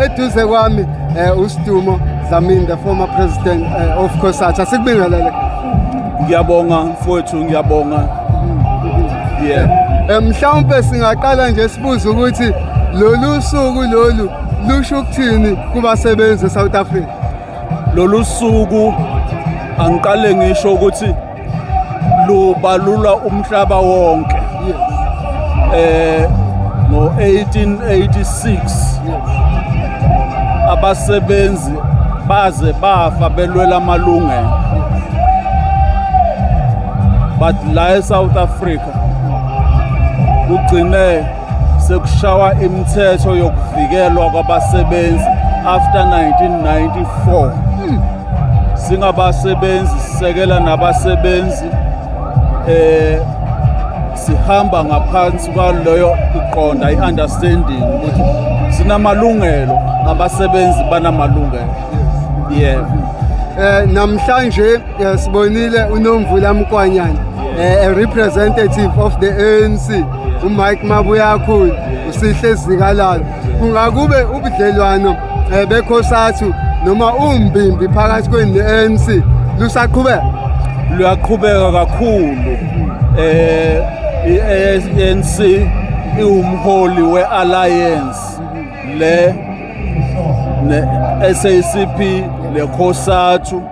Eduze kwami eh, uStumo Dlamini the former president eh, of COSATU asikubingelele. Ngiyabonga mfowethu ngiyabonga. Yeah. Eh, mhlawumbe singaqala nje sibuze ukuthi lolu suku lolu lusho ukuthini kubasebenzi eSouth Africa. Lolu suku angiqale ngisho ukuthi lubalula umhlaba wonke eh ngo-1886 abasebenzi baze bafa belwela amalungelo but la eSouth Africa kugcine sekushawa imithetho yokuvikelwa kwabasebenzi after 1994 singabasebenzi sisekela nabasebenzi eh sihamba ngaphansi kwaleyo iqonda i-understanding ukuthi sinamalungelo abasebenzi banamalungelo yebo eh namhlanje Eh, sibonile unomvula mkwanyana eh, a representative of the anc umike mabuyakhulu usihle zikalalo kungakube ubudlelwano um eh, bekhosathu noma umbimbi phakathi kweni ne-anc lusaqhubeka luyaqhubeka kakhulu um i-anc iwumholi we-alliance le ne-sacp nekhosathu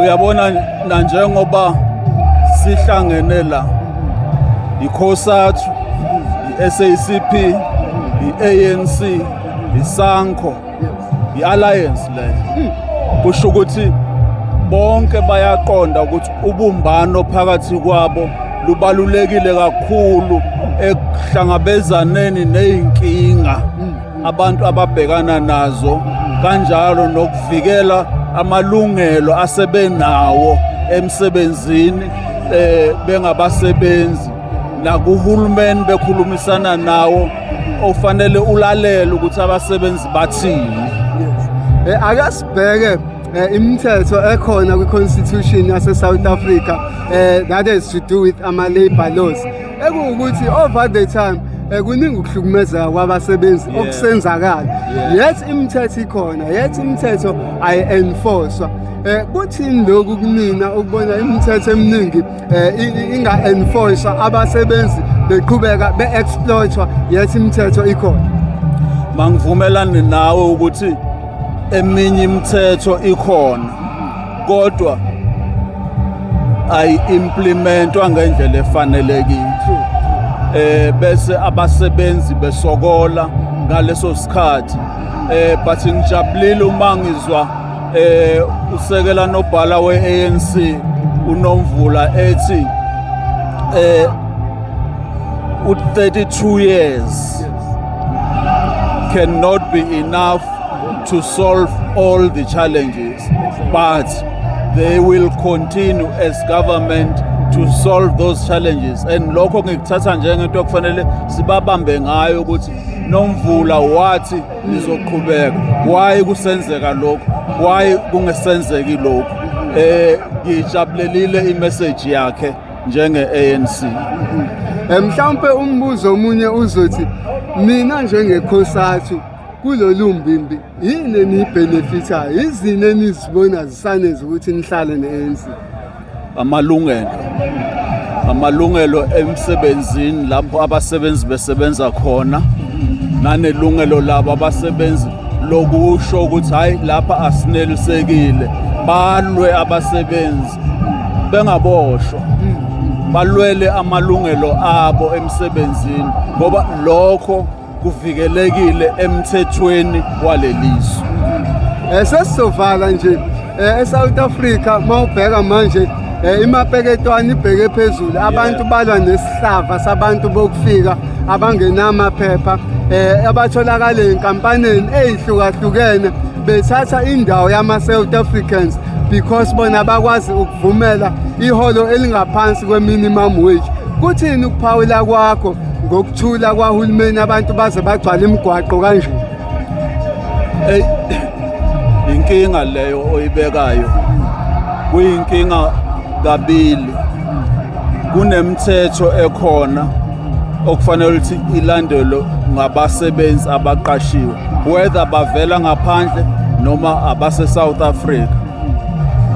uyabona nanjengoba sihlangene la yikhosathu yi-SACP yi-ANC yisankho yi-alliance le kusho ukuthi bonke bayaqonda ukuthi ubumbano phakathi kwabo lubalulekile kakhulu ekuhlangabezaneni nezinkinga abantu ababhekana nazo kanjalo nokuvikela amalungelo asebenawo emsebenzini eh bengabasebenzi nakuhulumeni bekhulumisana nawo ofanele ulalele ukuthi abasebenzi bathini eh, ake sibheke eh, imithetho ekhona kwi-constitution yase-south africa um that has to do with ama-labor laws ekuwukuthi over the time eh, kuningi ukuhlukumezeka kwabasebenzi Yeah. okusenzakala Yeah. yet imithetho ikhona yet imithetho ayi-enforcwa um kuthini lokhu kunina ukubona imithetho eminingi um inga-enforcwa abasebenzi beqhubeka be-exploitwa yet imithetho ikhona mangivumelani nawe ukuthi eminye imithetho ikhona kodwa ayi-implementwa ngendlela efanelekile eh bese abasebenzi besokola ngaleso sikhathi eh but ngijabulile uma ngizwa eh usekela nobhala we-ANC unomvula ethi eh u-32 years cannot be enough to solve all the challenges But they will continue as government to solve those challenges and lokho ngikuthatha njengento okufanele sibabambe ngayo ukuthi nomvula wathi nizoqhubeka why kusenzeka lokho why kungesenzeki lokho eh ngijabulelile imessage yakhe njenge ANC eh, mhlawumbe umbuzo omunye uzothi mina njengekhosathu kulolu mbimbi yini eniyibhenefithayo yizini enizibona zisaneza ukuthi nihlale ne-anc amalungelo amalungelo emsebenzini lapho abasebenzi besebenza khona nanelungelo labo abasebenzi lokusho ukuthi hhayi lapha asinelisekile balwe abasebenzi bengaboshwa balwele amalungelo abo emsebenzini ngoba lokho kuvikelekile emthethweni walelizwe eh, sesizovala nje eh, eSouth Africa mawubheka manje eh, imapeketwane ibheke phezulu abantu balwa nesihlava sabantu bokufika abangenamaphepha eh abatholakala enkampaneni ezihlukahlukene bethatha indawo yama South Africans because bona bakwazi ukuvumela iholo elingaphansi kwe minimum wage Kuthini ukuphawula kwakho ngokuthula kwahulumeni abantu baze bagcwala imigwaqo kanje? Ey inkinga leyo oyibekayo. Kuyinkinga kabili. Kunemthetho ekhona okufanele ukuthi ilandelwe ngabasebenzi abaqashiwe whether bavela ngaphandle noma abase-South Africa.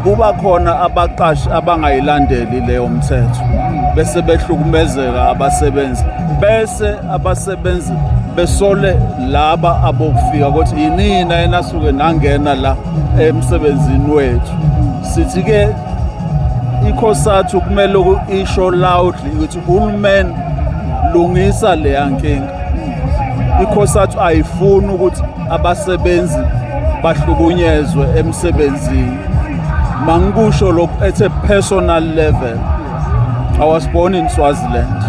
kuba khona abaqashi abangayilandeli leyo mthetho bese behlukumezeka abasebenzi bese abasebenzi besole laba abokufika ukuthi yinina enasuke nangena la emsebenzini wethu sithi ke ikhosathu kumele isho loudly ukuthi uhulumeni lungisa leya nkinga ikhosathu ayifuni ukuthi abasebenzi bahlukunyezwe emsebenzini mangikusho lokhu at a personal level i was born in swaziland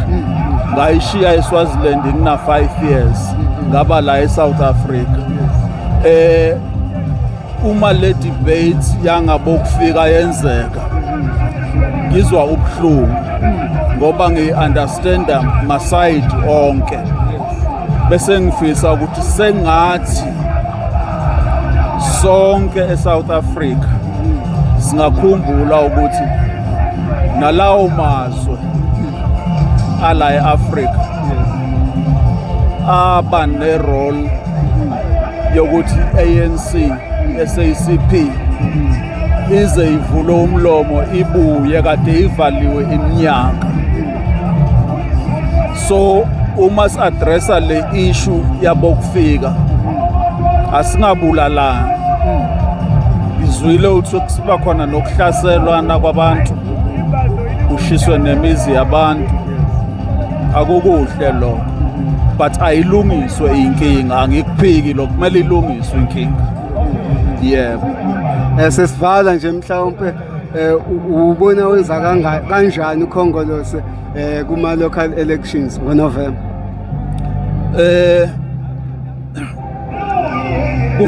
ngayishiya eswaziland ngina-five years ngaba la esouth africa um uma le debate yangabokufika yenzeka ngizwa ubuhlungu ngoba ngiyi-understanda masayidi onke bese ngifisa ukuthi sengathi sonke e-south africa singakhumbula ukuthi nalawo mazwe ala e-afrika aba nerole yokuthi ANC SACP ize ivule umlomo ibuye kade ivaliwe iminyaka so uma si-addressa le issue yabokufika asingabulalani ngizwile ukuthi kusiba khona nokuhlaselwana kwabantu kushiswe nemizi yabantu akukuhle lokho but ayilungiswe inkinga angikuphiki lokho kumele ilungiswe inkinga yebo eh, sesivala nje mhlawumpe eh, ubona wenza kanjani ukhongolose eh, kuma-local elections ngonovemba eh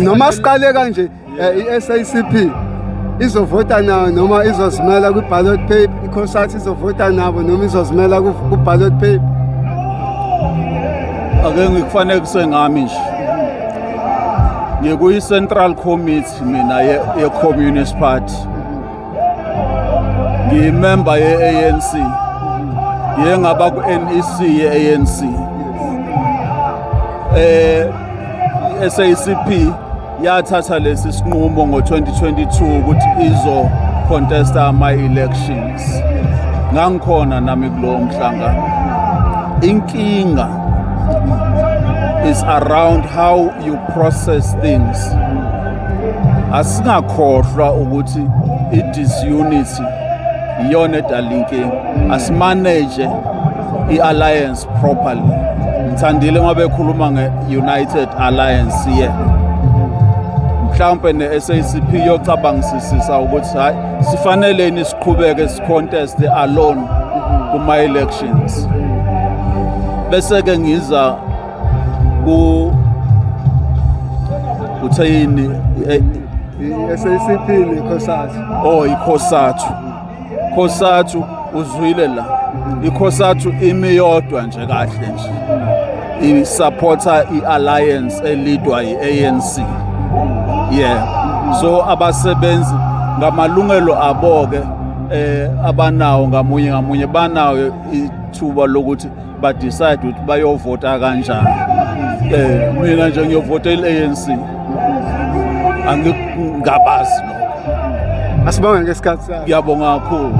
noma siqale kanje Eh, i-SACP izovota nawo noma izozimela kwi-ballot paper iCosat izovota nabo noma izozimela ku-ballot paper ake ngikufanekise ngami nje ngikuyi-central committee mina ye-communist party ngiyimemba ye-anc ngiye ngaba ku-nec ye-anc um eh, i-sacp yathatha lesi sinqumo ngo-2022 ukuthi izocontesta ama-elections ngangikhona nami kulowo mhlangano inkinga is around how you process things asingakhohlwa ukuthi i-disunity iyona edala inkinga asimanage i-alliance properly ngithandile ngoba ekhuluma nge-united alliance ye mhlawumpe ne-sacp yocabangisisisa ukuthi hhayi sifaneleni siqhubeke sicontest alone kuma-elections bese-ke ngiza ku utheyini i-sacp nekhosathu oh ikhosathu Khosathu uzwile la ikhosathu imi yodwa nje kahle nje isupporter i-alliance elidwa yi-anc yeah so abasebenzi ngamalungelo abo-ke eh abanawo ngamunye ngamunye banawo ithuba lokuthi ba decide ukuthi bayovota kanjani eh mina nje ngiyovota iANC angikubazi lokho asibonga ngesikhathi sakho ngiyabonga kakhulu